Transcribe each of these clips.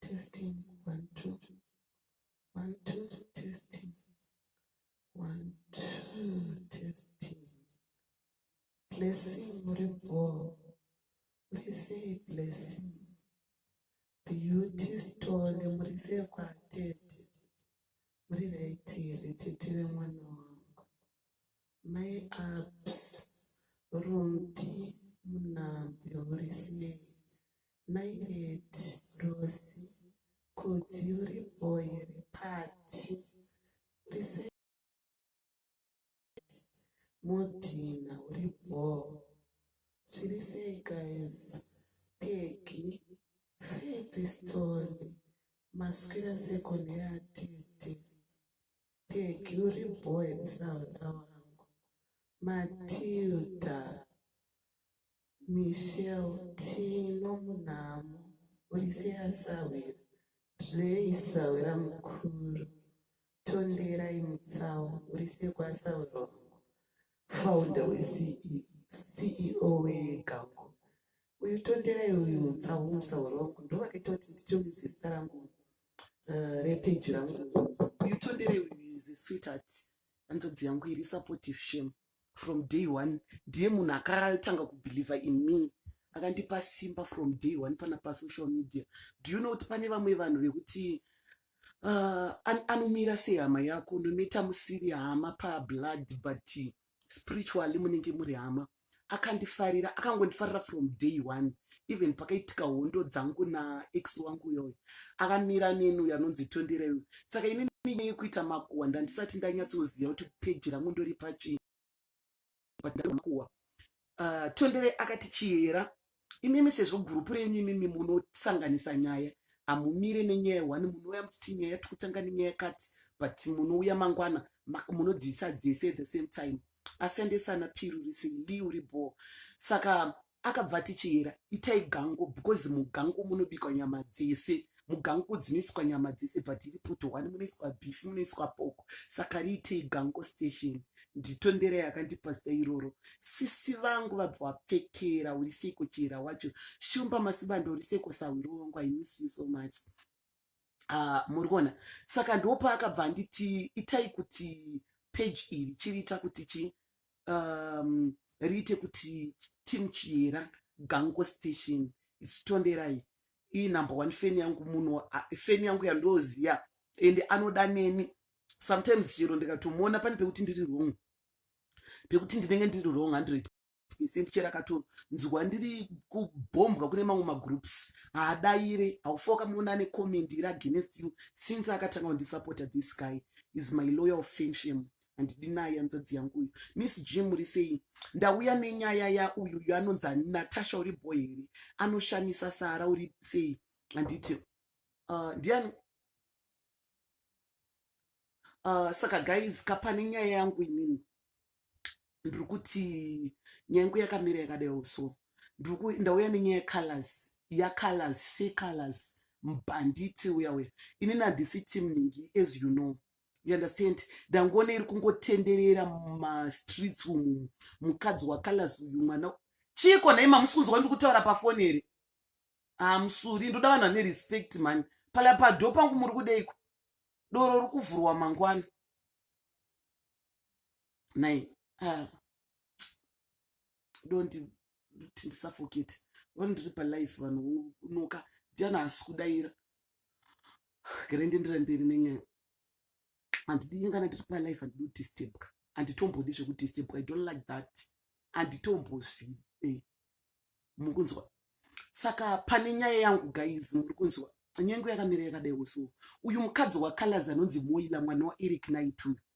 testing one two one two testing one two testing blessing uri bhoo uri sei blessing beauty stone muri sei kwatete muri raiti here tete vemwana wangu Mai Abs, Rumbi, Munabvi, Horisinei, Mai Edi, Rosi, Kudzi uri boy here Pati, uri sei Mudhina, uri bho, zviri sei guys Peggy, Febby Stone, maswira seko neatete Thank you, Riboy and Sauna. Matilda, Michelle, Tino Munamo, Ulisia Sawira, Dre Sawira Mukuru, Tondera Imutsawa, Ulisia Kwa Sawira, founder we CEO we Gango. Uyu Tondera uyu Mutsawa Musawira, ndo vakitoti ndichomudzi zita rangu uh, repage rangu yutondere is a sweetheart hanzvadzi yangu iri supportive shame from day one ndiye munhu akatanga kubelieve in me akandipa simba from day one pana pasocial media do you know kuti pane vamwe vanhu vekuti uh, an anomira sehama yako no matter musiri hama pablood but spiritually munenge muri hama akandifarira akangondifarira from day one even pakaitika hondo dzangu naex wangu uyoyo akamira neni uyo anonzi tondera uyo saka ini nyaya yekuita makuwa ndandisati ndanyatsoziva kuti peji rangu ndori pachii but ndamakuwa uh, tondere akati chiyera imimi sezvo gurupu renyu imimi munosanganisa nyaya hamumire nenyaya one munouya muchiti nyaya tikutanga nenyaya kati but munouya mangwana munodziisa dzese at the same time asendesana pirurisi li uri bho saka akabva tichiyera itai gango because mugango munobikwa nyama dzese mugango dzinoiswa nyama dzese but iri poto one munoiswa beef munoiswa poko saka riitei gango station nditondera yakandipasita iroro sisi vangu vabva wapfekera uri seiko chihera wacho shumba masibanda uri seiko sahwiro wangu i miss you so much uh, muri kuona saka ndopaakabva anditi itai kuti page iri chiriita kuti chii um, riite kuti team chiyera gango station ichitonderai iyi number one feni yangu munhu feni yangu yandoziya ende anoda neni sometimes chero ndikatomuona pane pekuti ndiri wrong pekuti ndinenge ndiri wrong hundred percent chero akatonzwa ndiri kubhombwa kune mamwe magroups haadaire haufa wakamuona ane comment iri against you since akatanga kundisupporta this guy is my loyal fensham handidi naye hanzvadzi yangu uyu miss g muri sei ndauya nenyaya yauyu uyu anonzi natasha uri boy here anoshamisa sara uri sei handiti uh, ndiani uh, saka guys kapane nyaya yangu inini ndiri kuti nyaya yangu yakamira yakadai so ndauya nenyaya yecolors yacolors secolors mbhanditi uya uya inini handisi team ningi as you know you understand ndangoona iri kungotenderera mumastreets umu mukadzi wacolors uyu mwana chiiko nhai mamusi kunzwa ndi kutaura pafoni here hamusuri ndoda vanhu vane respect mani pala pado pangu muri kudeiko doro ri kuvhurwa mangwana nai ah. dondi kuti ndisafokete vano ndiri palife vanhu unoka ndiana asi kudaira Gere ndiendera mberi nenyaya. Handidi inga ndiri pa life handidi kudistabka. Handitombodi zvekudistabka. I don't like that. Handitombozvi. Eh. Mukunzwa. Saka pane nyaya yangu guys muri kunzwa. Nyengo yakamira yakadai usiwo. Uyu mukadzi waColors anonzi Moila mwana waEric Naituyu.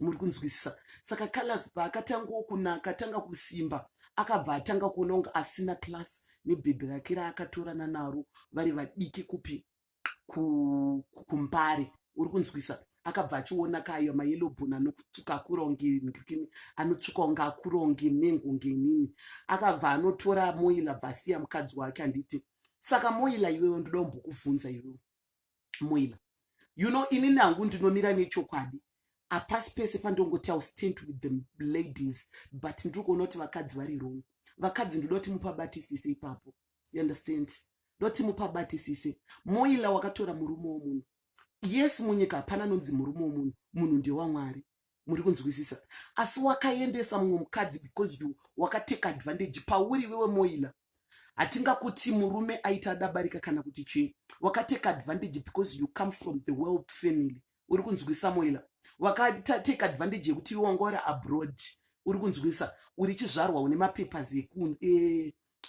muri kunzwisisa saka callas paakatangawo kunaka atanga kusimba akabva atanga kuona kunge asina class nebhebhi rake raakatorana naro vari vadiki kupi kumbare uri kunzwisa akabva achiona kayo mayellow bon anotsvuka akuronge ndikini anotsvuka kunge akuronge mengo ngenini akabva anotora moila bva asiya mukadzi wake handiti saka moila iwewo ndoda kumbokubvunza iwewo moila you know inini hangu ndinomira nechokwadi hapasi pese pandongoti iw stand with the ladies but ndiri kuona kuti vakadzi vari wrong vakadzi ndinoda kuti mupabatisise ipapo you understand ndoda kuti mupabatisise moila wakatora murume womunhu yes munyika hapana anonzi murume womunhu munhu ndewamwari muri kunzwisisa asi wakaendesa mumwe mukadzi because you wakateka advantage pauri iwewe moila hatingakuti murume aita adabarika kana kuti chii wakateka advantage because you come from the world family uri kunzwisisa moila wakateka advantage yekuti iwe wanga uri abroad uri kunzwisisa uri chizvarwa une mapapers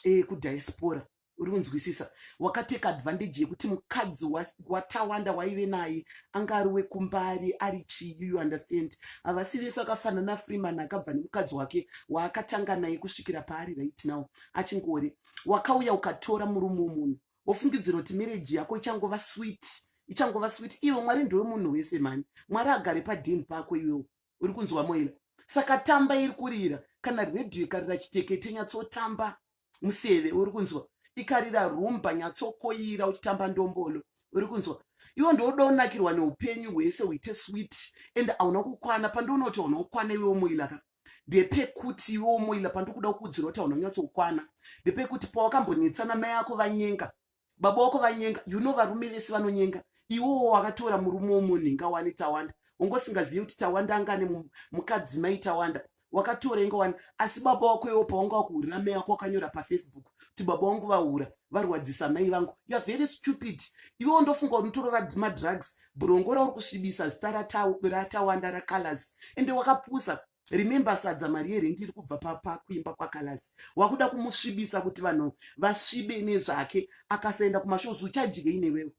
ekudiaspora e, e, uri kunzwisisa wakateka advantage yekuti mukadzi watawanda waive naye anga ari wekumbari ari chii you understand havasi vese akafanana freeman akabva nemukadzi wake waakatanga naye kusvikira paari right now achingori wakauya ukatora murume womunhu wofungidzira kuti mereji yako ichangova swit ichangova swit iwe mwari ndowe munhu wese mani mwari agare padin pako iwewo uri kunzwa moila saka tamba iri kurira kana redhiyo ikarira chitekete nyatsotamba museve uri kunzwa ikarira rumba nyatsokoira uchitamba ndombolo uri kunzwa iwo ndooda unakirwa neupenyu hwese huite swit and hauna kukwana pandiona kuti hauna kukwana iwe umoila ka ndepekuti iwe umoila pandikuda kukudzira kuti hauna kunyatsokukwana ndepekuti pawakambonetsana mai ako vanyenga baba wako vanyenga you know varume vese vanonyenga iwowo wakatora murume womunhu inga wani tawanda ungosingazivi kuti tawanda anga ane mukadzi mai tawanda wakatora inga wani asi baba wako iwo pawanga wakuhurira mai wako wakanyora pafacebook kuti baba wangu vahura varwadzisa mai vangu youare very stupid iwewo ndofunga kuti unotorova madrugs brongo rauri kusvibisa zita ratawanda racolors ende wakapusa remember sadza mari yerendi iri kubva pakuimba kwakalasi wakuda kumusvibisa kuti vanhu vasvibe nezvake akasaenda kumashows uchadyei newewo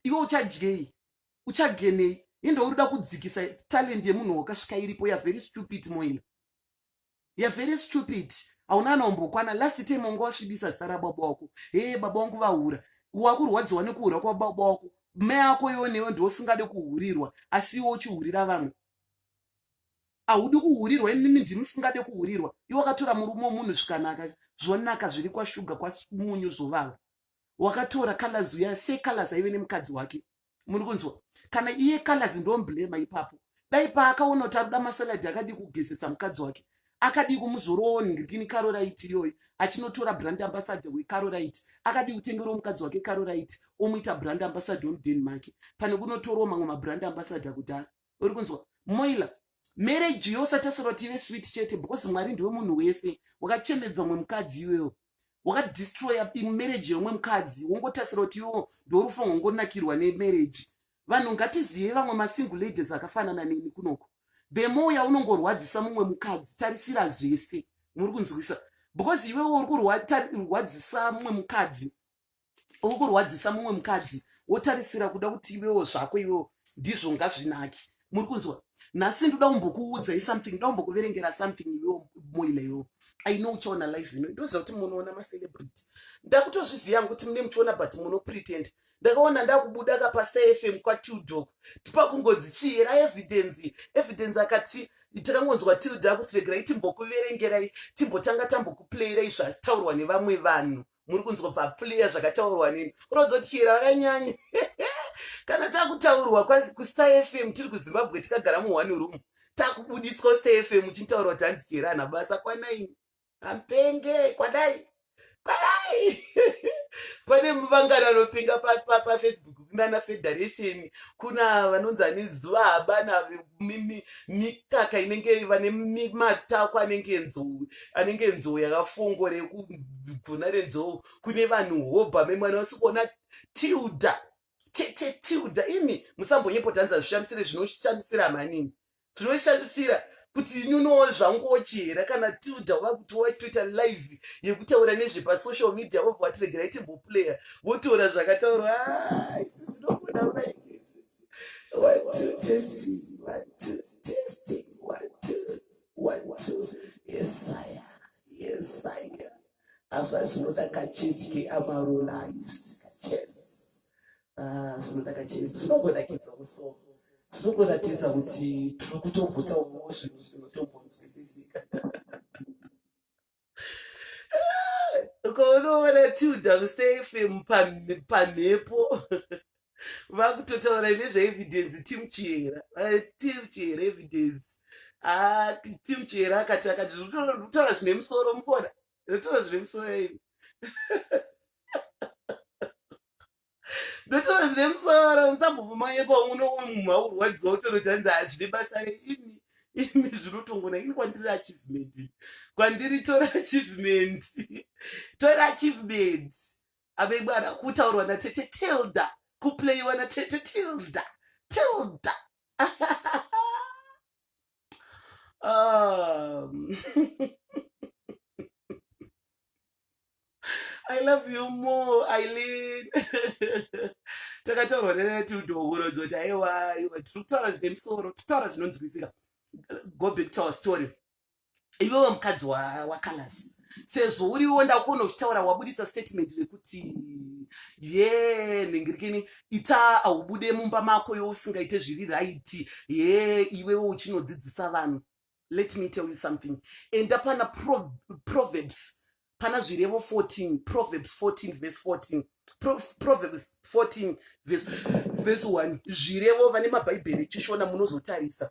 iwe uchadyei uchagenei ende urida kudzikisa talent yemunhu wakasvika iripo ya very stupid moina ya very stupid hauna ana umbokwana last time wanga wasvibisa zita rababa wako hee baba wangu vahura wakurwadziwa nekuhura kwababa wako mai ako iwo newe ndiosingade kuhurirwa asi iwo uchihurira vamwe ahudi kuhurirwa imimi ndimusingade kuhurirwa iwe wakatora murume womunhu zvikanaka zvonaka zviri kwashuga kwamunyu zvovava wakatora colors uya sei colors aive nemukadzi wake muri kunzwa kana iye colors ndomblema ipapo dai paakaona kuti aruda masaladi akadii kugezesa mukadzi wake akadii kumuzorowo nirikini karoraiti iyoyo achinotora brand ambassador wekaroraiti akadii kutengerwo mukadzi wake karoraiti omuita brand ambassador omuden make pane kunotorwo mamwe mabrand ambassador kudhara uri kunzwa moila mereji yo usatarisira kuti ive swit chete because mwari ndiwe munhu wese wakachemedza umwe mukadzi iwewo wakadistroya mereji yeumwe mukadzi wongotarisira kuti iwewo ndorufu rwongonakirwa nemereji vanhu ngatizive vamwe masingle ladies akafanana neni kunoko the more yaunongorwadzisa mumwe mukadzi tarisira zvese muri kunzwisa because iwewo uri kurwadzisa mumwe mukadzi uri kurwadzisa mumwe mukadzi wotarisira kuda kuti iwewo zvako iwewo ndizvo ngazvinaki muri kunzwa nhasi ndoda kumbokuudzai something ndoda kumbokuverengera something iwewo moila iwewo i know uchaona live ino ndoziva kuti munoona macelebrity ndakutozviziva yangu kuti mune muchiona but munopretend ndakaona ndakubuda kapasta fm kwatildok tipakungonzi chii era evidence evidence akati takangonzwa tilda kuti regerai timbokuverengerai timbotanga tambokuplayirai zvataurwa nevamwe vanhu muri kunzwa bva pliya zvakataurwa nini unodzo tichiyera vakanyanya kana takutaurwa kustar fm tiri kuzimbabwe tikagara muone room takubuditswa kustar fm uchintaurwa kuti hanzi chiyera ana basa kwanaini ampenge kwadai kwadai pane muvangano anopinga pafacebook pa, pa, pa, kunana federation kuna vanonzi ane zuva habana mikaka inenge vane matako anenge nzou anenge nzou yakafongo rekugona renzou kune vanhu hobha memwana wasikuona tilda tete tilda imi musambonyepotanza zvishamisire zvinoshamisira manini zvinoshamisira kuti ini unowo zvanguwo chihera kana tilda vakuti wachitoita live yekutaura nezvepasocial media vobva vatiregerai timboplayer votaura zvakataurwa ah, izvi zvinogona unaii azvazvinoda kachesi keamarolais Ah, zvinodakadza zvinongonakidza musoro zvinongoratidza kuti tiri kutogutsa umwewo zvinhu zvinotombonzwisisika ukaunoona tilda kustayfm pamhepo vakutotaura nezvaevidence tim chiera eh, tim chiera evidence ah, tim chiera akati akati zvinotaura zvine musoro mukona ndotora zvine musoro ini ndotora zvine musoro musambovumanyepa uno munhu aurwadziwa utorotanzi hazvine basa reimi imi zvinotongona ini kwandiri achievement kwandiri tora achievement tora achievement avebwana kutaurwa natete tilda kuplayiwa natete tilda tilda ah. I love you more, Eileen. Takataurwa netudo huro dzoti aiwa iwe tiri kutaura zvine musoro, tutaura zvinonzwisika. Go back to our story. Iwewe mukadzi waKalasi. sezvo uriwo ndakuona uchitaura wabuditsa statement rekuti ye nhingirikini ita haubude mumba mako yo usingaite zviri raiti ye iwewo uchinodzidzisa vanhu let me tell you something enda pana pro, proverbs pana zvirevo 14 proverbs 14 vese 14 pro, proverbs 14 vese 1 zvirevo vane mabhaibheri echishona munozotarisa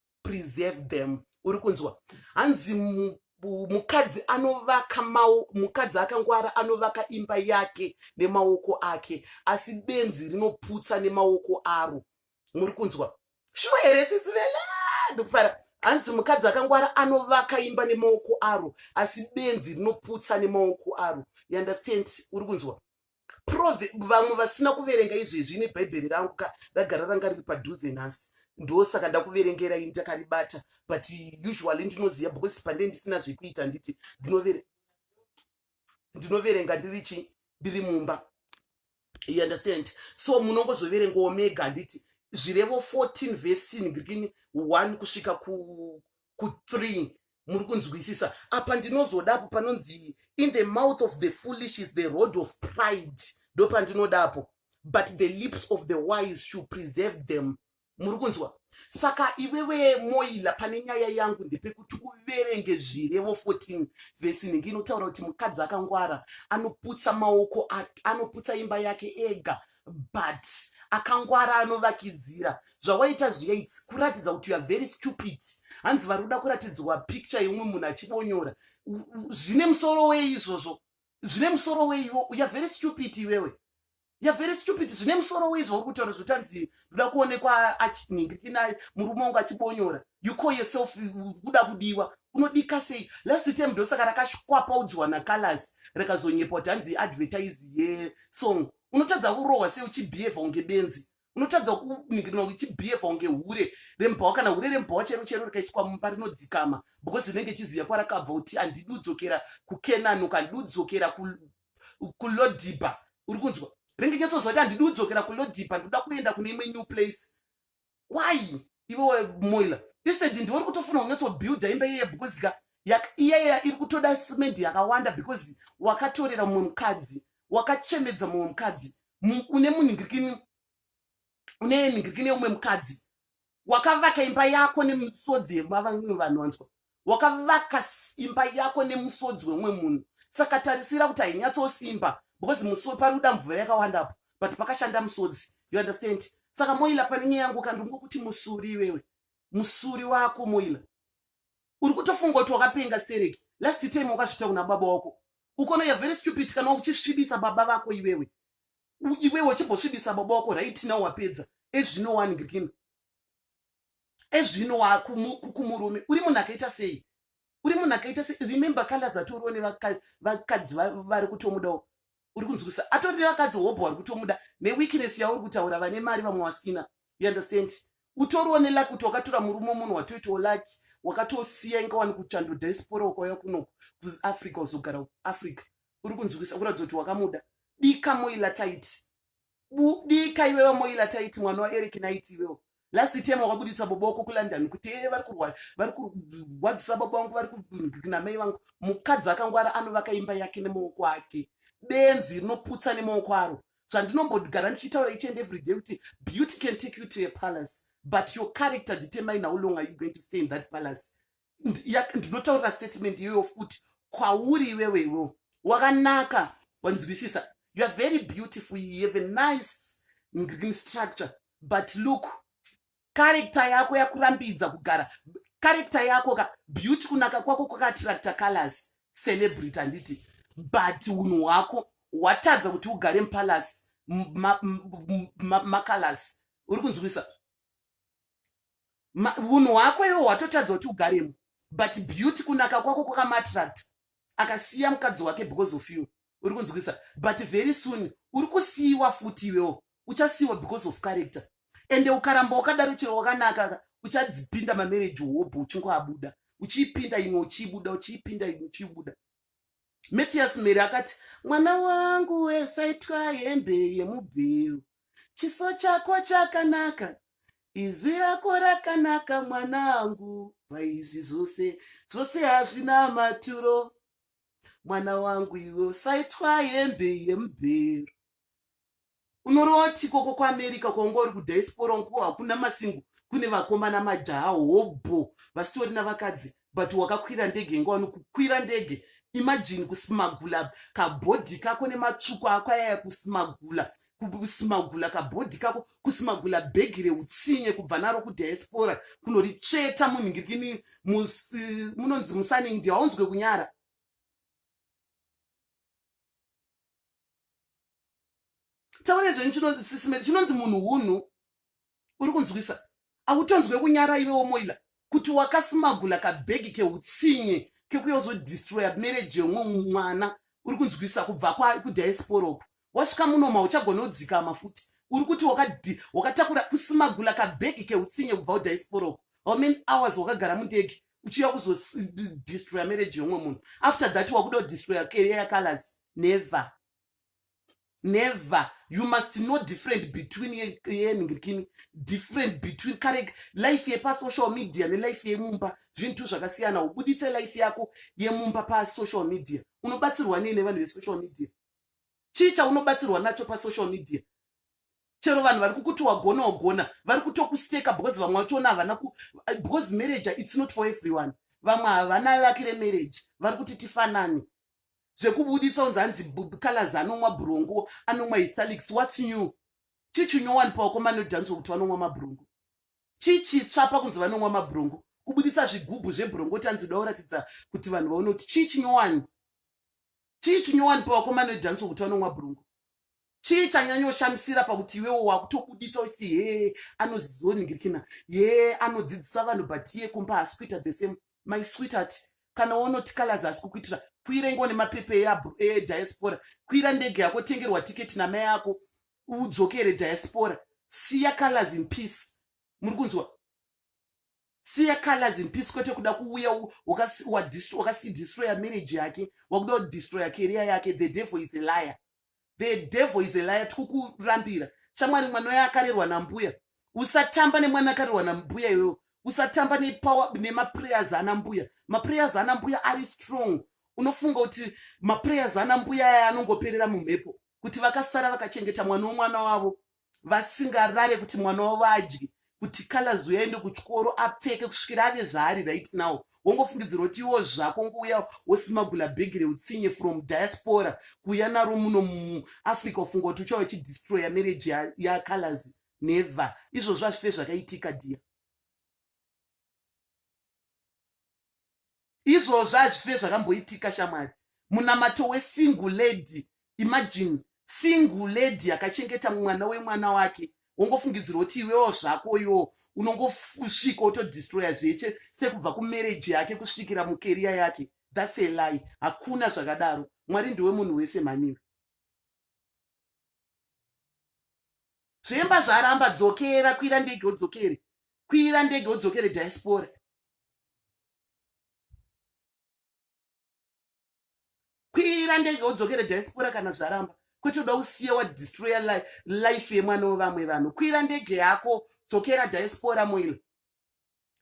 preserve them uri kunzwa hanzi mukadzi anovaka mukadzi akangwara anovaka imba yake nemaoko ake asi benzi rinoputsa nemaoko aro muri kunzwa shuwa here sisi vela ndikufara hanzi mukadzi akangwara anovaka imba nemaoko aro asi benzi rinoputsa nemaoko aro you understand uri kunzwa prove vamwe vasina kuverenga izvezvi ine bhaibheri rangu ka ragara ranga riri padhuze nhasi ndosaka ndakuverengera ini takaribata but usually ndinoziva because pande ndisina zvekuita nditi ndinoverenga ndiri chi ndiri mumba you understand so munongozoverengawo mega handiti zvirevo 14 vesin between one kusvika ku ku three muri kunzwisisa apa ndinozodapo panonzi in the mouth of the foolish is the road of pride ndopandinodapo but the lips of the wise should preserve them muri kunzwa saka iwewe moila pane nyaya yangu ndepekuti uverenge zvirevo 14 vhesi inenge inotaura kuti mukadzi akangwara anoputsa maoko anoputsa imba yake ega but akangwara anovakidzira zvawaita zviya its kuratidza kuti youare very stupid hanzi vari kuda kuratidzwa picture yeumwe munhu achibonyora zvine musoro wei izvozvo zvine musoro wei iwo youare very stupid iwewe youare very stupid zvine musoro wei zvauri kutaura zvoti hanzi ndoda kuonekwa achinhingikina murume wangu achibonyora you call yourself kuda kudiwa unodika sei last time ndosaka rakashikwapaudzwa nakalasi rakazonyepa kuti hanzi advertise yesong unotadza kurohwa sei uchibhiyevha kunge benzi unotadza kuningirirwa uchibhiyevha kunge hure rembhawa kana hure rembhawa chero chero rikaiswa mumba rinodzikama because rinenge ichiziva kwarakabva kuti handidi udzokera kukenani uka handidi udzokera kulodhibha uri kunzwa rinenge nyatsoziva kuti handidi udzokera kulodhibha ndikuda kuenda kune imwe new place why iwe moila isedi ndiwe uri kutofuna kunyatsobuilda imba iyeye because ka iyaya iri kutoda simendi yakawanda because wakatorera mumwe mukadzi wakachemedza mumwe mukadzi une munhingirikini une nhingirikini yeumwe mukadzi wakavaka imba yako nemisodzi yemavamwe vanhu wanzwa wakavaka imba yako nemusodzi wemwe munhu saka tarisira kuti hainyatsosimba because musi paruda mvura yakawandapo but pakashanda musodzi you understand saka moila pane nyaya yangu kandingokuti musuri iwewe musuri wako moila uri kutofunga kuti wakapenga stereki last time wakazvita kuna baba wako ukona ya very stupid kana uchisvibisa baba vako iwewe iwewe uchimbosvibisa baba wako right now wapedza ezvino wani green ezvino wakumurume uri munhu akaita sei uri munhu akaita sei remember kalazatorowo nevakadzi vari kutomudawo uri kunzwisa atori nevakadzi hobho vari kutomuda neweakness yauri kutaura vane mari vamwe wasina you understand utoriwo nelaki kuti wakatora murume munhu watoitawo laki wakatosiya inga wani kuchando diaspora ukauya kuno kuafrica uzogara africa uri kunzwisa kuratidza kuti wakamuda dika moilataiti budika iwe vamoila taiti mwana waeric naiti iwewo last time wakabudisa baba wako kulondon kuti ee vari kurwara vari kurwadzisa baba vangu vari kunamai vangu mukadzi akangwara anovaka imba yake nemaoko ake benzi rinoputsa nemaoko aro zvandinombogara ndichitaura each and every day kuti beauty can take you to a palace but your character determine how long are you going to stay in that palace ndinotaurira statement iyoyo futi kwauri iwewe iwewo wakanaka wanzwisisa you are very beautiful you have a nice green structure but look karekta yako yakurambidza kugara karekta yako ka beauty kunaka kwako kwakaattracta colors celebrity handiti but unhu hwako hwatadza kuti ugare mupalasi macolors uri kunzwisa unhu hwako iwo hwatotadza kuti ugaremo but beauty kunaka kwako kwakamatract akasiya mukadzi wake because of you uri kunzwisa but very soon uri kusiyiwa futi iwewo uchasiyiwa because of character ende ukaramba wakadaro chero wakanaka uchadzipinda mamereji hobho uchingoabuda uchiipinda imwe uchiibuda uchiipinda imwe uchiibuda Mathias Mary akati, mwana wangu we usaitwa hembe yemubveu. Chiso chako chakanaka. Izwi rako rakanaka mwana angu. Paizvi zvose, zvose hazvina maturo. Mwana wangu iwe usaitwa hembe yemubveu. unorowa tsiko ko kuamerica kwaunga uri kudiaspora unko hakuna masingo kune vakomana majaha hobho vasitori navakadzi but wakakwira ndege inga wani kukwira ndege imajini kusimagula kabhodhi kako nematsvuku ako ayaya kusimagula kusimagula kabhodhi kako kusimagula bhegi reutsinye kubva naro kudiaspora kunoritsveta munhingirikini munonzi musaningdi haunzwe kunyara taure zvenyu chinosisimeti chinonzi munhu hunhu uri kunzwisa akutonzwe kunyara ive womoila kuti wakasimagula kabhegi keutsinye kekuyozodistroya mereji yomwe mwana uri kunzwisa kubva kudiasporoku wasvika munoma uchagona kudzikama futi uri kuti wakatakura kusimagula kabhegi keutsinye kubva kudiasporoku how many hours wakagara mundege uchiuya kuzodestroya marriage yeumwe munhu after that wakuda kudestroya career yacolors never never you must know different between yenhingirikini different between kare life yepasocial media nelife yemumba zvinhu tu zvakasiyana ubuditse life yako yemumba pasocial media unobatsirwa nei nevanhu vesocial media chii chaunobatsirwa nacho pasocial media chero vanhu vari kukuti wagona wagona vari kutokuseka because vamwe vachiona havana ku because marriage it's not for everyone vamwe havana laki remarriage vari kuti tifanane zvekubuditsa unzi hanzi colors anomwa brongo anomwa histalix whats new chichinyowanipa wakomana odhaniswa kuti vanomwa mabrongo chichitsva pakunzi vanomwa mabrongo kubuditsa zvigubhu zvebrongo kuti anzi dauratidza kuti vanhu vaone kuti chii chinyowani chii chinyowani pawakomana odhaniswa kuti vanomwa brongo chii chanyanyoshamisira pakuti iwewo wakutobuditsa uchiti hee anozoningirikina hee anodzidzisa vanhu but iye kumba haasi kuita the same my sweetheart kana wonoti kalazi haasi kukuitira kwira ingo nemapepe ediaspora kwira ndege yako tengerwa tiketi namai ako udzokere diaspora siya kalazi in peace muri kunzwa siya colors in peace kwete kuda kuuya wakadestroya marriage yake wakuda kudestroya career yake the devil is a liar the devil is a liar tikukurambira shamwari mwana uya akarerwa nambuya usatamba nemwana akarerwa nambuya iyoyo usatamba nemaprayers ana mbuya maprayers ana mbuya ari strong unofunga kuti maprayers ana mbuya aya anongoperera mumhepo kuti vakasara vakachengeta mwana womwana wavo vasingarare kuti mwana wavo adye kuti calors uyaende kuchikoro apfeke kusvikira ave zvaari right now wongofungidzirwa kuti iwo zvako ngouya wosimagula bhegi reutsinye from diaspora kuuya naro muno muafrica ufunga kuti uchava uchidestroya marriage yacalors ya never izvozvo hazvife zvakaitika dia izvozvo hazvife zvakamboitika shamwari munamato wesingle lady imagine single lady akachengeta mwana wemwana wake wongofungidzirwa kuti iwewo zvako yoo unongosvika otodistroya zveche sekubva kumereji yake kusvikira mukeriya yake thats a lie hakuna zvakadaro mwari ndiwe munhu wese mhaniwe Zvemba zvaramba dzokera kwira ndege udzokere. Kwira ndege udzokere diaspora. Kwira ndege udzokere diaspora kana zvaramba. Kwete uda usiye wa destroyer life yemwana wevamwe vanhu. Kwira ndege yako dzokera diaspora moil.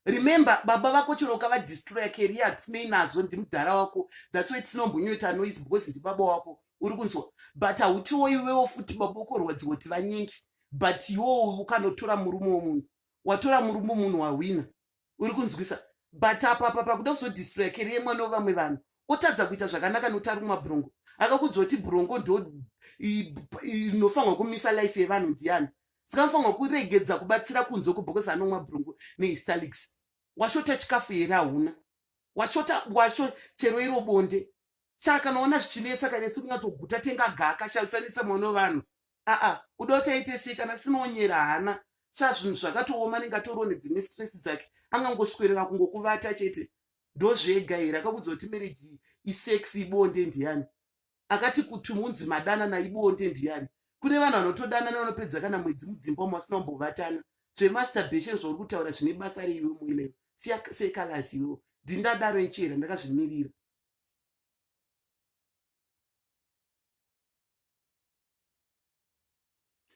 remember baba vako chero ukavadestroya career hatisinei nazvo ndimudhara wako thats why tinombonyoita noise because ndibaba wako uri kunzwa but hautiwo iwewo futi baba ukorwadziwa kuti vanyingi but iwowo ukanotora murume womunhu watora murume munhu wahwina uri kunzwisa but apapa pakuda kuzodestroya career mwana wevamwe vanhu otadza kuita zvakanaka nokuti ari kumabhurongo akakudzwa kuti bhurongo ndo inofanirwa kumisa life yevanhu ndiani dzinofanirwa kuregedza kubatsira kunze uko because anomwa brungu nehistalics washota chikafu here hauna washota washo chero iro bonde shaa kana ona zvichinetsa kana isi kunyatsoguta tenga gaka shaa usanetsa mwana wevanhu aa uda kuti aite sei kana sinoonyera hana shaa zvinhu zvakatooma anenge atoriwo nedzimwe stress dzake angangoswerera kungokuvata chete ndozvega here akakuudza kuti mereji isex ibonde ndiani akati kuti munzi madanana ibonde ndiyani kune vanhu vanotodanana vanopedza kana mwedzi mudzimba umo vasina kumbovatana zvemasturbation zvauri kutaura zvine basa reiwe muine siya sekalazi iwewo ndindadaro nchera ndakazvimirira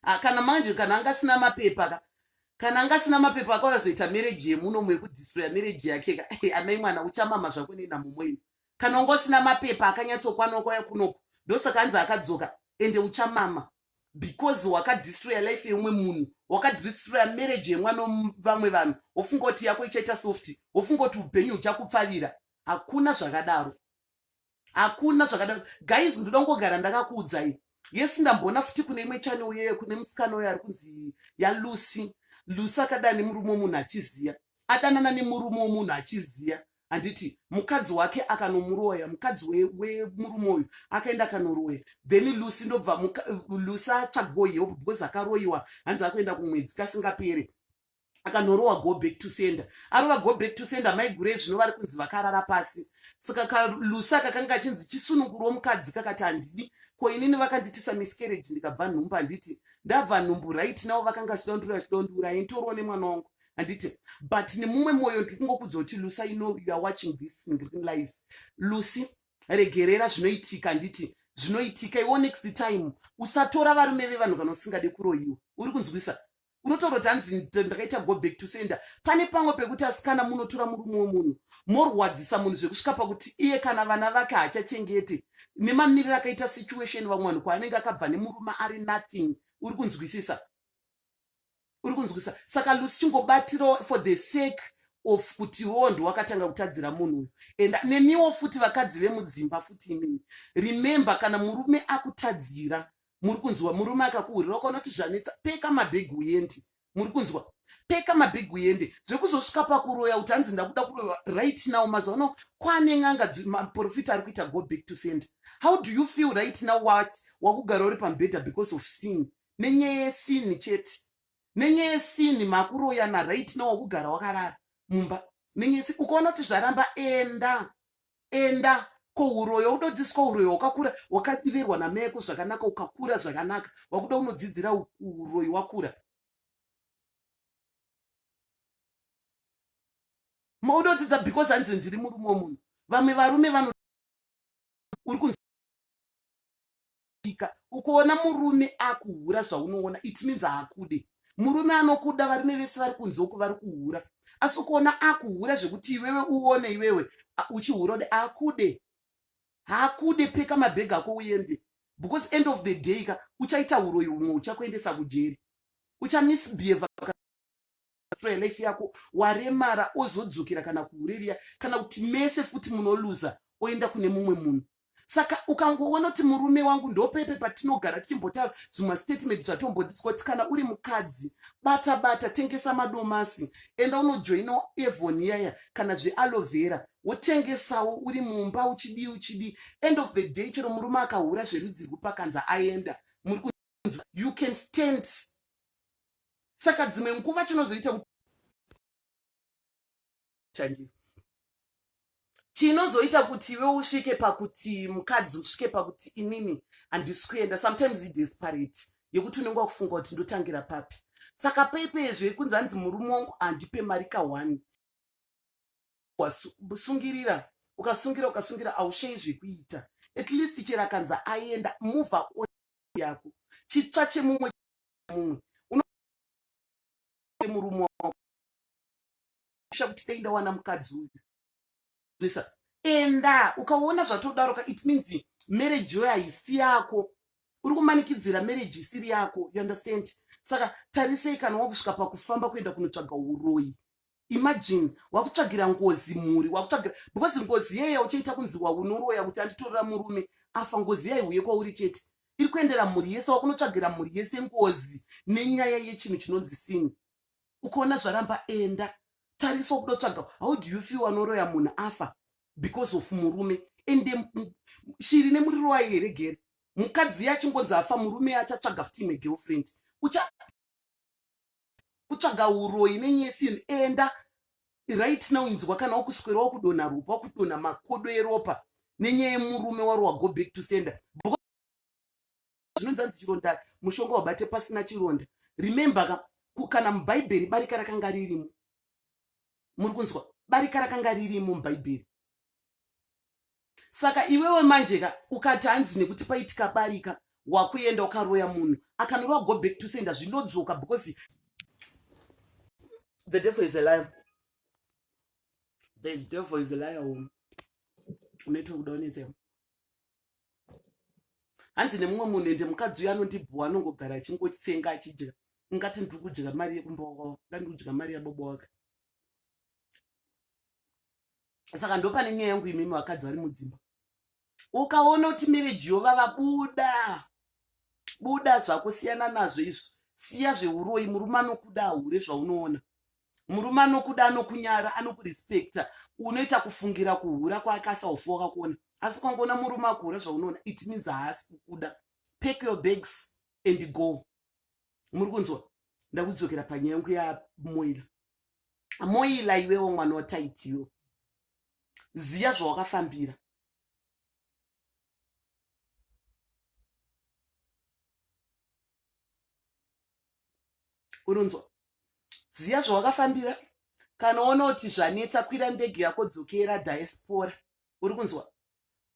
ah, kana manje kana anga asina mapepa ka kana anga asina mapepa akauya zoita mereji yemuno mumwe yekudhistroya mereji yake ka amai mwana uchamama zvako nenamumweni kana unga usina mapepa akanyatsokwana kwaya kunoko ndosaka anzi akadzoka ende uchamama because wakadistroya life yeumwe munhu wakadistroya marriage yemwana vamwe vanhu wofunga kuti yako ichaita soft wofunga kuti upenyu huchakupfavira hakuna zvakadaro hakuna zvakadaro guys ndoda kungogara ndakakuudzai yes ndamboona futi kune imwe chane uye kune musikana uyo ari kunzi yalucy lucy akadana nemurume womunhu achiziya adanana nemurume womunhu achiziya handiti mukadzi wake akanomuroya mukadzi wemurume uyu akaenda akanoroya then lucy ndobva lucy atsvagwo help because akaroyiwa hanzi akuenda kumwedzi kasingapere akanorowa go back to sender arova go back to sender mai gure zvino vari kunzi vakarara pasi saka kalusa kakanga kachinzi chisunungurwo mukadzi kakati handidi ko inini vakanditisa miscarriage ndikabva nhumbu handiti ndabva nhumbu right navo vakanga vachida kundura vachida kundura intorwa nemwana wangu handiti but nemumwe mwoyo ndiri kungokudza kuti lusa you know you are watching this in green life lucy regerera zvinoitika handiti zvinoitika iwo next time usatora varume vevanhu kana usingade kuroyiwa uri kunzwisa unotaura kuti hanzi ndakaita go back to sender pane pamwe pekuti asikana munotora murume wemunhu morwadzisa munhu zvekusvika pakuti iye kana vana vake haachachengete nemamiriro akaita situation vamwe vanhu kwaanenge akabva nemurume ari nothing uri kunzwisisa uri kunzwisisa saka lusi chingobatirawo for the sake of kuti wo ndiwakatanga kutadzira munhu uyu and nemiwo futi vakadzi vemudzimba futi imimi remember kana murume akutadzira muri kunzwa murume akakuhurira ukaonoti zvanetsa peka mabhegi uyendi muri kunzwa peka mabhegi uende zvekuzosvika pakuroya kuti hanzi ndakuda kuroya right now mazuva ano kwane n'anga maprofita ari kuita go back to send how do you feel right now wat wakugara uri pamubhedha because of sin nenyaya yesini chete nenyaya yesini makuroyana right now wakugara wakarara mumba nenyaya yesini ukaona kuti zvaramba enda enda kouroyo udodziswa uroyi wakakura wakadirerwa nameko zvakanaka ukakura zvakanaka wakuda unodzidzira uroyi wakura maudodzidza because hanzi ndiri murume womunhu vamwe varume vano uri kunzi kusvika ukoona murume akuhura zvaunoona it means haakude murume anokuda varume vese vari kunze uku vari kuhura asi ukoona akuhura zvekuti iwewe uone iwewe uchihura ude akude haakude peka mabhegi ako uende because end of the day ka uchaita uroyi umwe uchakuendesa kujeri uchamisbehave restore life yako waremara ozodzokera kana kuuririya kana kuti mese futi munoluza oenda kune mumwe munhu saka ukangoona kuti murume wangu ndopepe patinogara tichimbotaura zvimwe statement zvatombodziswa kuti kana uri mukadzi bata bata tengesa madomasi enda unojoina evon yaya kana zvealovera wotengesawo uri mumba uchidii uchidii end of the day chero murume akahura zverudzi rwupakanza aenda muri you can stand saka dzimwe nguva chinozoita kuti chanjira chinozoita kuti iwe usvike pakuti mukadzi usvike pakuti inini handisi kuenda sometimes idesperate yekuti unenge wakufunga kuti ndotangira papi saka paipezve kunzi hanzi murume wangu handipe mari ka one wasungirira ukasungira ukasungira ausheyi zvekuita at least chero akanzi aenda move yako chitsva chemumwe mumwe unomurume wako sha kuti dai ndawana mukadzi uyu zvesa enda ukaona zvatodaro ka it means marriage yoyo haisi yako uri kumanikidzira marriage isiri yako you understand saka tarisei kana wakusvika pakufamba kuenda kunotsvaga uroyi imagine wakutsvagira ngozi mhuri wakutsvagira because ngozi yeye uchaita kunzi waunoroya kuti anditorera murume afa ngozi yaiuye kwauri chete iri kuendera mhuri yese wakunotsvagira mhuri yese ngozi nenyaya yechinhu chinonzi sini ukaona zvaramba enda tarisa wakuda kutsvaga how do you feel wanoroya munhu afa because of murume ende shiri nemuriro wayo here gere mukadzi yachingonzi afa murume achatsvaga futi imwe girlfriend ucha kutsvaga uroyi nenyesi in enda right now inzwa kana wakuswera wakudonha ropa wakudonha makodo eropa nenyaya yemurume wari wago back to sender zvinonzanzi chironda mushonga wabate pasina chironda remember ka kana mubhaibheri barika rakanga ririmo muri kunzwa barika rakanga ririmo mubhaibheri saka iwewe manjeka ukati hanzi nekuti paitika barika wakuenda ukaroya munhu akanorowa go back to senda zvinodzoka because the devil is a liar the devil is a liar woman unoita kuda unetsa hanzi nemumwe munhu ende mukadzi uyo anondibhuwa anongogara achingotsenga achidya ungati ndiri kudya mari yekumba wakawa ndandikudya mari yabobo wake saka ndopane nyaya yangu imimi vakadzi vari mudzimba ukaona kuti mereji yovava buda buda zvako siyana nazvo izvo siya zveuroyi murume anokuda ahure zvaunoona murume anokuda anokunyara anokurespekta unoita kufungira kuhura kwaakasaufa wakakuona asi ukangoona murume akuhura zvaunoona it means haasi kukuda pack your bags and go muri kunzwa ndakudzokera panyaya yangu yamoira moila iwewo mwana wataitiwo ziya zvawakafambira unonzwa ziya zvawakafambira kana uona kuti zvanetsa kwira ndege yako dzokera diaspora uri kunzwa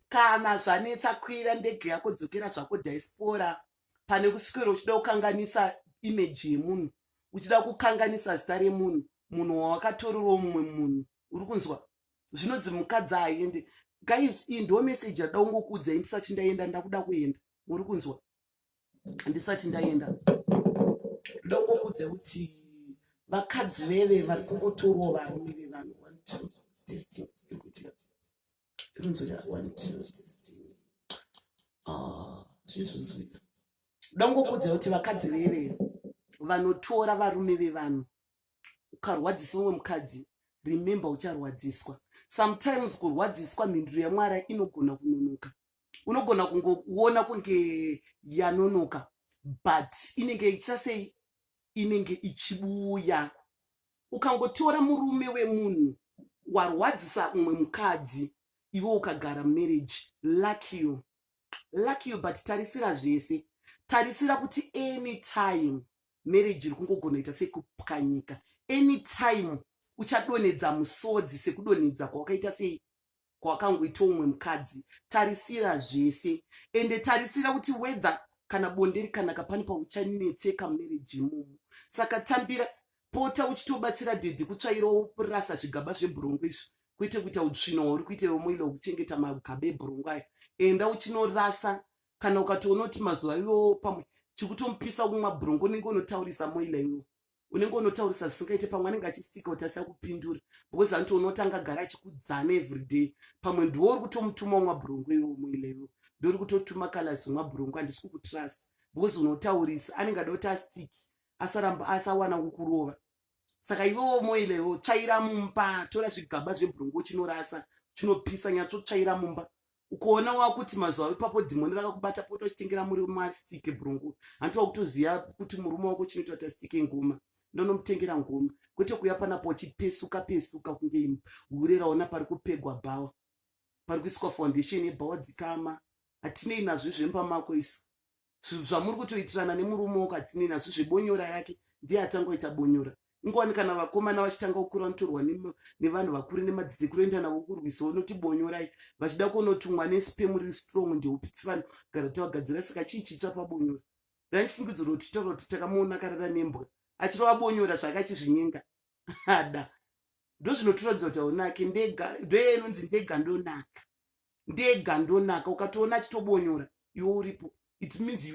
kana zvanetsa kwira ndege yako dzokera zvako diaspora pane kuswera uchida kukanganisa imeji yemunhu uchida kukanganisa zita remunhu munhu wawakatorerwo mumwe munhu uri kunzwa zvinonzi mukadzi aende guys iyi ndo meseji yada kungokuudzai ndisati ndaenda ndakuda kuenda muri kunzwa handisati ndaenda ndongokudze kuti vakadzi veve vari kungotorwo varume vevanhu ah, zvezvinzoita ndongokudze kuti vakadzi veve vanotora varume vevanhu ukarwadzisa umwe mukadzi remember ucharwadziswa sometimes kurwadziswa mhinduro yamwari inogona kunonoka unogona kungoona kunge yanonoka but inenge ichisa sei inenge ichibuya ukangotora murume wemunhu warwadzisa umwe mukadzi iwe ukagara marriage lucky you lucky you but tarisira zvese tarisira kuti anytime marriage iri kungogona ita sekupwanyika anytime uchadonhedza musodzi sekudonhedza kwawakaita sei kwakangoita umwe mukadzi tarisira zvese ende tarisira kuti wether kana bonde rikanaka pane pauchanetseka mumereji imomo saka tambira pota uchitobatsira dhedhi kutsvairawo rasa zvigaba zvebhurongo izvi kwete kuita utsvino hwauri kuita iwe moila wekuchengeta magaba ebhurongo ayo enda uchinorasa kana ukatoona kuti mazuva iwowo pamwe chikutomupisa kumwa bhurongo unenge unotaurisa moila iwo unenge unotaurisa zvisingaite pamwe anenge achistika kuti asina kupindura because anoti unotanga gara achikudzana everyday pamwe ndiwo uri kutomutuma umwa bhurungu iwe umweileyo ndori kutotuma kalas umwa bhurungu handisi kukutrust because unotaurisa anenge ada kuti astiki asaramba asawana kukurova saka iwewo umweileyo tsvaira mumba tora zvigaba zvebhurungu uchinorasa chinopisa nyatsotsvaira mumba ukoona wakuti mazuva ipapo dhimoni rakakubata pota uchitengera muri mastike brungu hanti wakutoziva kuti murume wako chinoita kuti astike ngoma ndonomutengera ngoma kwete kuya panapo uchipesuka pesuka kunge imi hure raona pari kupegwa bhawa pari kuiswa foundation yebhawa dzikama hatinei nazvo zvemba mako isu zvinhu zvamuri kutoitirana nemurume wakatsinina zvi zvebonyora rake ndiye atangoita bonyora ingowani kana vakomana vachitanga kukura vanotorwa nevanhu vakuru nemadzisekuru enda navo kurwisa unoti bonyorai vachida kunotumwa nespem riri strong ndeupitsi vanhu gara tavagadzira saka chii chitsva pabonyora randifungidzo rotitaura kuti takamuona karara nembwa achirova bonyora zvakachizvinyenga ada ndozvinotiratidza kuti aunake ndega ndoye inonzi ndega ndonaka ndega ndonaka ukatoona achitobonyora iwe uripo it means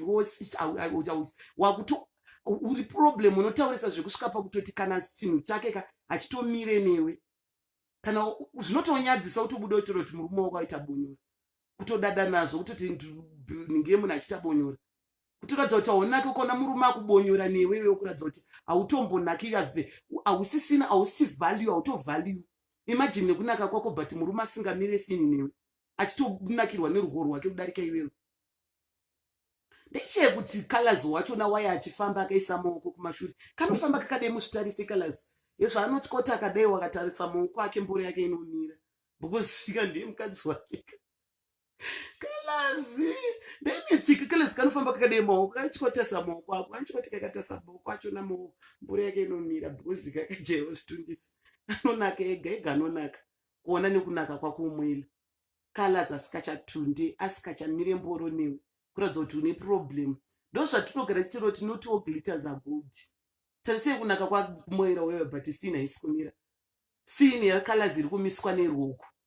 wakuto uri problem unotaurisa zvekusvika pakutoti kana chinhu chake ka hachitomire newe kana zvinotonyadzisa utobuda uchitoro kuti murume wako aita bonyora kutodada nazvo kutoti ndinge munhu achiita bonyora kutoratidza kuti haunake ukaona murume akubonyora newewe wokuratidza kuti hautombonake yave hausisina hausi value hautovalue imajini nekunaka kwako but murume asingamire sini newe achitonakirwa nerugo rwake kudarika iwewe ndechee kuti colors wachona waye achifamba akaisa maoko kumashure kanofamba kakadai muzvitarise colors yezvaanoti koti akadai wakatarisa maoko ake mboro yake inomira because fika ndiye mukadzi wake kalazi ndenyetsika kalazi kanofamba kakadai maoko kaichikotesa maoko ako kanichikoti kakatasa maoko acho namaoko mbura yake inomira bhuzi kakajaiwa zvitundisa anonaka ega ega anonaka kuona nekunaka kwakumwila kalazi asikachatunde asikachamire mboro newe kuratidza kuti une problem ndozvatinogara chitiro tinotiwo glitters are good tarisei kunaka kwamoera wewe but sina isikumira sini yakalazi iri kumiswa neruoko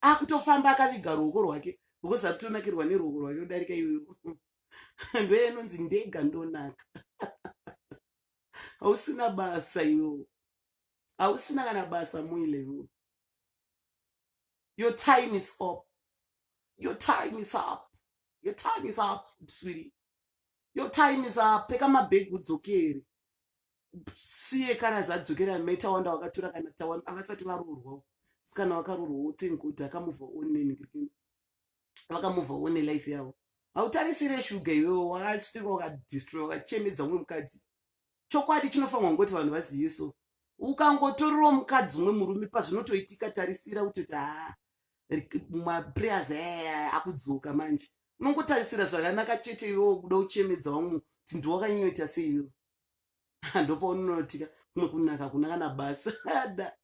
akutofamba akaviga ruoko rwake because akutonakirwa neruoko rwake kudarika iyoyo ndoye inonzi ndega ndonaka hausina basa iyoyo hausina kana basa muilevo your time is up your time is up your time is up sweetie your time is up peka mabhegi udzokere siye kana zvadzokera meta wanda wakatura kana tawa avasati varoorwawo sikana wakaroorwa wothink kuti akamuvha oneni vakamuvha one life yavo hautarisire shuga iwewo wakasvika wakadistroy wakachemedza umwe mukadzi chokwadi chinofanirwa kungoti vanhu vazive so ukangotorerawo mukadzi umwe murume pazvinotoitika tarisira kuti kuti haa maprayers aya akudzoka manje unongotarisira zvakanaka chete iwewo kuda uchemedza umwe kuti ndiwakanyoita seiwewo ndopaunonotika kumwe kunaka kuna kana basa ada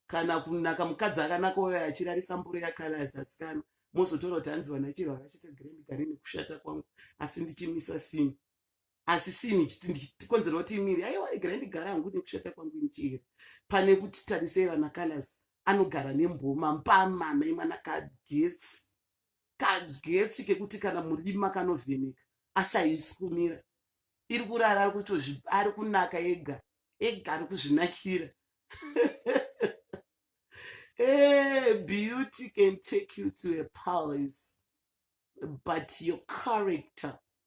kana kunaka mukadzi akanaka uyo achirarisa mboro yakale azasikana mozotora kuti hanzi vana chiro vakachita grand gari nekushata kwangu asi ndichimisa sini asi sini ndichikonzera kuti imiri aiwa grand gari hangu nekushata kwangu ndichihera pane kuti tarisei vana colors anogara nemboma mpama mai mwana kagetsi kagetsi kekuti kana murima kanovheneka asi haisi kumira iri kurara ari kutozvi ari kunaka ega ega ari kuzvinakira hey, eh, beauty can take you to a palace but your character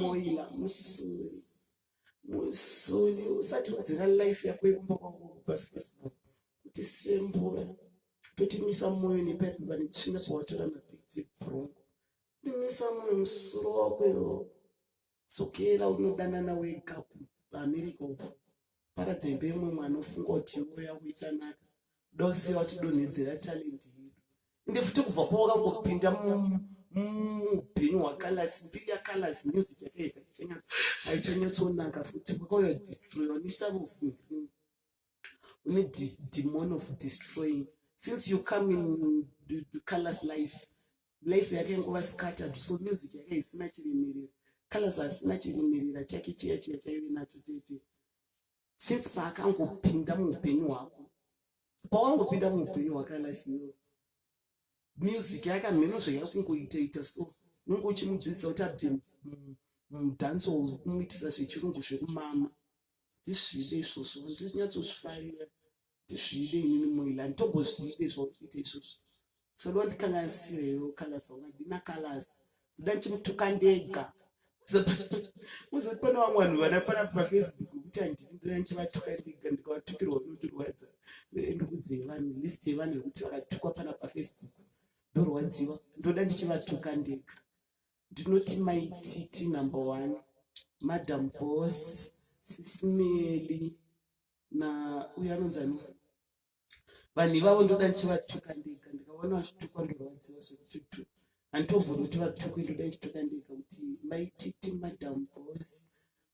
moila musuri musuri usati wadzira life yako yekumba kwangu kupa facebook kuti sembura totimisa moyo nepapi vane tsvina pawatora mapikti brongo timisa moyo musuro wako iwo dzokera unodanana wega kuamerica uko paradza imba yemumwe anofunga kuti uya kuichanaka dose watidonhedzera talent yedu ende futi kubva pawakangopinda muupenyu hwakalasi mbiri yakalasi music yakaedza haichanyatsoonaka futi kwakauya destroyer unisavofungiri une demon of destroying since you come in colors life life yake nguva scattered so music yake isina chirimirira colors asina chirimirira chake chiya chiya chaive nacho tete since paakangopinda muupenyu hwako pawangopinda muupenyu hwake alasino music yake hamheno zvaiya kungoitaita so unenge uchimudzidzisa kuti abve mudance kumuitisa zvechirungu zvekumama ndizvide izvozvo ndinyatsozvifarira ndizvide inini moila nditombozviide zvakuita izvozvo sodoa ndikalasirero kalasi wanga ndina kalasi ndoda ndichimutuka ndega uzoti pane vamwe vanhu vana pana pafacebook kuti handini ndina ndichivatuka ndega ndikavatukirwa kunotirwadza ndokudze vanhu list yevanhu vekuti vakatukwa pana pafacebook ndorwadziwa ndoda ndichivatuka ndega Ndinoti mai Titi number one, madam boss, sisimeli na uyo anonzani vanhu ivavo ndoda ndichivatuka ndega ndikaona vachitukwa ndorwadziwa zvekututu handitomboroti vatukwe ndoda ndichituka ndega kuti mai Titi madam boss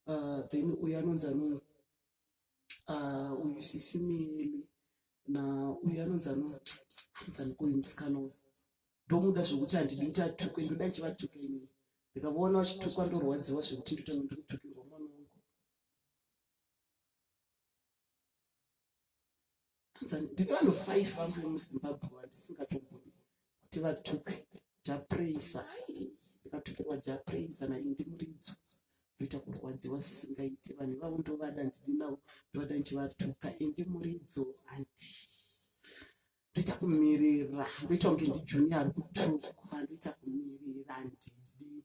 uh, then uyo anonzani uh, uyu sisi mimi na uyu anonzi anonzanikoyu musikana uyu ndomuda zvekuti handidi kuti atukwe ndoda chivatuka inini ndikavaona vachitukwa ndorwadziwa zvekuti ndotanga ndikutukirwa mwana wangu ndine vanhu five vangu vemuzimbabwe vandisingatogoni kuti vatuke japraisa ndikatukirwa japraisa nai ndimuridzo ndoita kurwadziwa zvisingaiti vanhu vavo ndovada ndidi navo ndovada ndichivatuka endi muridzo handi ndoita kumirira ndoita kunge ndijuni ari kutukwa ndoita kumirira ndidi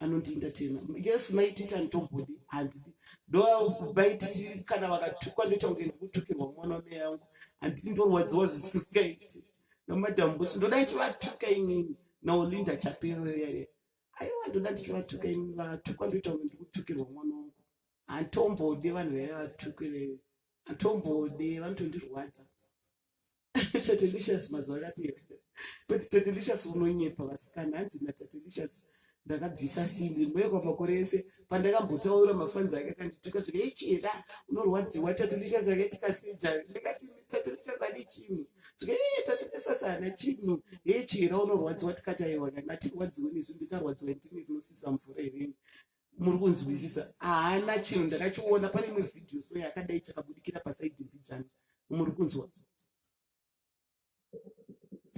anondientertaina yes mai titi anditobhudi hanzi ndo mai titi kana vakatukwa ndoita kunge ndikutukirwa mwana wamai yangu handiti ndorwadziwa zvisingaiti namadam busi ndoda ndichivatuka inini naolinda chaperere aiwa ndoda ndichivatuka inini vatukwa ndoita kunge ndikutukirwa mwana wangu handitombondi vanhu vaive vatukire handitombondi vanotondirwadza tatelicious mazuva akapera but tatelicious unonyepa vasikana hanzi natatelicious ndakabvisa simbi mbuya kwamakore ese pandakambotaura mafanzi ake akandituka zviri echera unorwadziwa tatelicious akaitikaseja ndikati tatelicious ane chinhu zviri tatelicious ana chinhu echera unorwadziwa tikataiwa kana atirwadziwe nezvi ndikarwadziwa ndini rinosisa mvura irini muri kunzwisisa haana chinhu ndakachiona pane imwe vhidhiyo so yakadai chakabudikira pasaidi mbijana muri kunzwa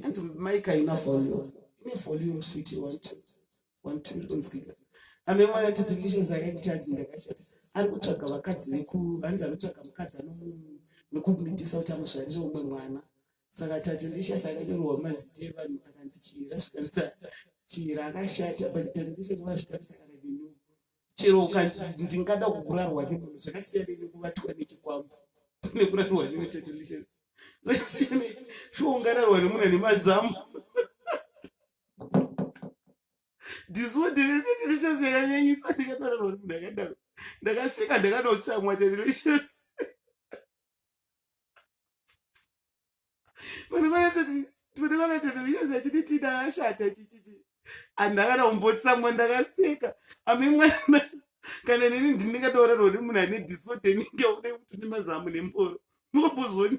hanzi maika ina volume ine volume switi one two one two iri kunzwika ame mwana titi ndishe zake kutadzi ndakashata ari kutsvaga vakadzi veku hanzi anotsvaga mukadzi anomu nekumitisa kuti amuzvarire umwe mwana saka tati ndisha sakanyorwa mazita evanhu akanzi chira zvitamisa chira akashata but tati ndisha kuva zvitamisa kana dinu chero ndingada kukurarwa nemunhu zvakasiyana nekuvatwa nechikwambo pane kurarwa newe tati ndisha zvakasiyana shuwa ungararwa nemunhu ane mazamu ndizodere tati ndisha sekanyanyisa ndikatorarwa nemunhu akadaro ndakaseka ndakanotsamwa tati ndisha vana vanatatovinyanza chiti tina ashata chichichi anhu akana kumbotsamwa ndakaseka ame mwana kana neni ndinengatorara uri munhu ane disorder inenge ude kuti nemazamu nemboro munombozoni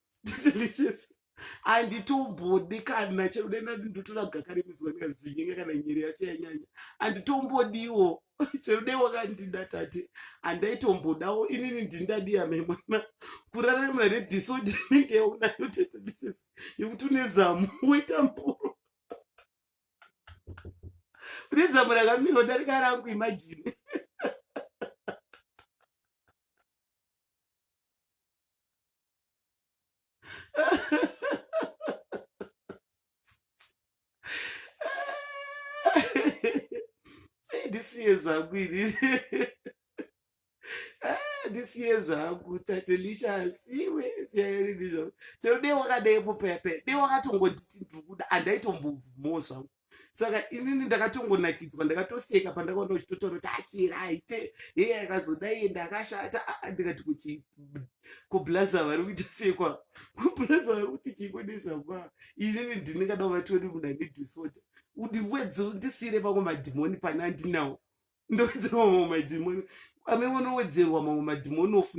delicious handiti umbodi kana chekudenda ndindotora gaka remidzwa ndikazvinyenge kana nyiri yacho yanyanya handiti umbodiwo cheude wakandida tati handaitombodawo inini ndindadiya memwana kurarama redisodi inenge yaunayo tete dishes yekuti une zamu woita mboro une zamu rakamirwa darika rangu imajini ndisiye zvangu ini ndisiye ah, zvangu tatelisha asiwe siyaerini zvangu chero dei wakadeepo pepe dei wakatongonditi ndikuda andaitombovumawo zvangu saka inini ndakatongonakidzwa ndakatoseka pandakaona uchitotaura kuti achira ah, aite heye akazodai ende akashata ah, ah, ndikati kuti kublaza vari kuita sekwa kublaza vari kuti chingo nezvakwa inini ndinengada uvationi munhu ane disorder undiwedze undisiire pamwe madhimoni pane andinawo ndowedzerwa mamwe madhimoni ame mwana owedzerwa mamwe madhimoni of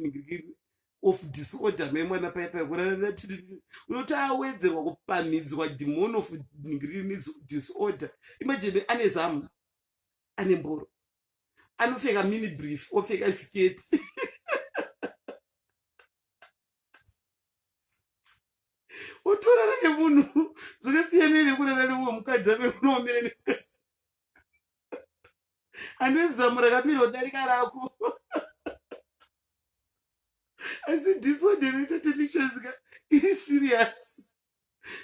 of disorder me mwana paya paya kuranatiti unoti awedzerwa kupamhidzwa dhimoni of disorder imajini ane zamu ane mboro anopfeka mini brief opfeka sketi otorana nemunhu zvakasiyana nekurana neumwe mukadzi ave unoomera nemukadzi handizi zamu rakamira kudarika rako asi disorder inoita delicious ka iri serious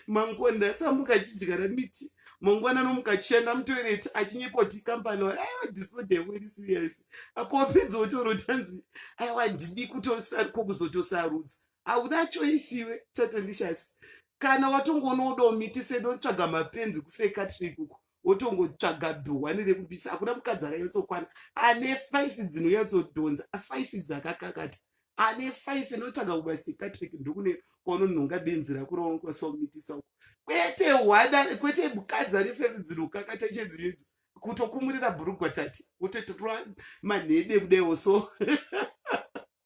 mangonda asamuka achidyara miti mangwana anomuka achienda mutoireti achinyepoti kambani wa aiwa disorder yako iri serious apo wapedza wotaura kuti hanzi aiwa handidi kutosariko kuzotosarudza hauna choisi iwe tatelicious kana watongoona wodawo miti sedotsvaga mapenzi kusekatri ikuku wotongotsvaga dhuhwani rekubisa hakuna mukadzi akanyatsokwana ane five dzinonyatsodhonza five dzakakakata ane five inotsvaga kubasekatrik ndokune kwaunonhonga benzi rako raunokwasakumitisa uko kwete hwada kwete mukadzi ane five dzinokakata chedzinoidzo kutokumurira bhurugwa tati wototorwa manhede kudaiwo so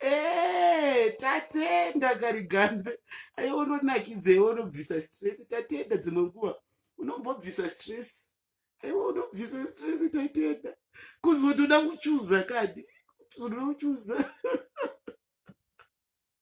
Eh, tatenda karigambe aiwa unonakidza iwe unobvisa stress tatenda dzimwe nguva unombobvisa stress aiwa unobvisa stress tatenda kuzotoda kuchuza kadi kuzotoda kuchuza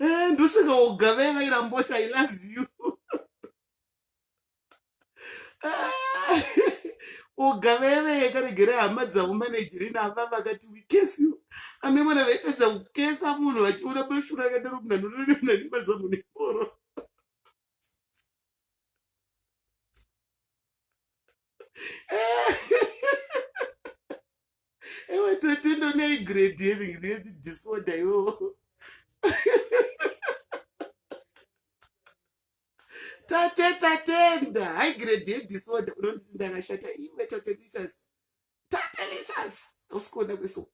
eh, ndosaka ugave vairamboti i love you ugaveve karegere hama dzavo manejirina ava vakati wikesi you ame mwana vaitadza kukesa munhu vachiona bashura akadaro munanonononani mazamu neporo ewe tete ndonei grade yeving neti disorder iwowo tate tatenda hai grade yedisorder unonditi ndakashata iwe tate lichas tate lichas usikuona kweso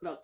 look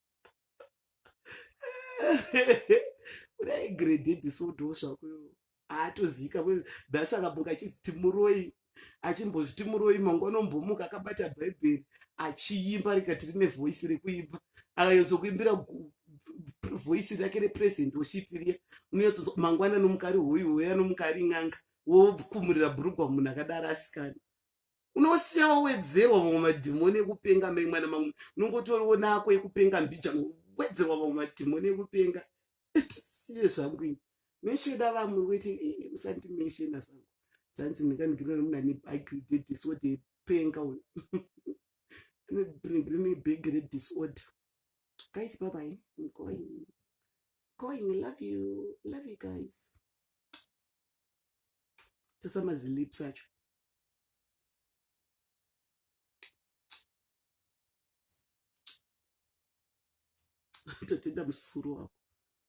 kudai grededi sodo zvako haatozika nhasi akamuka achiziti muroi achimbozviti muroi mangu anombomuka akabata bhaibheri achiimba rikati rine voisi rekuimba akanyatsokuimbira voisi rake represent woshitiria unonyatso mangwana nomukari hoyu hoyo anomukari n'anga wofumurira bhurugwa munhu akadaro asikana unosiya wawedzerwa vamwe madhimoni ekupenga mai mwana mamwe unongotoriwo nako ekupenga mbija wedzerwa vamwe madhimoni ekupenga tisiye zvangu ini mesheda vamwe weti eh, musati meshena zvangu tanzi ndingandigirira nomunhu ane bhagi dedisorder yepenga uyo bring big red disorder. Guys, bye bye. I'm going. Going. Love you. Love you guys. tasa mazilips acho tatenda musuru wako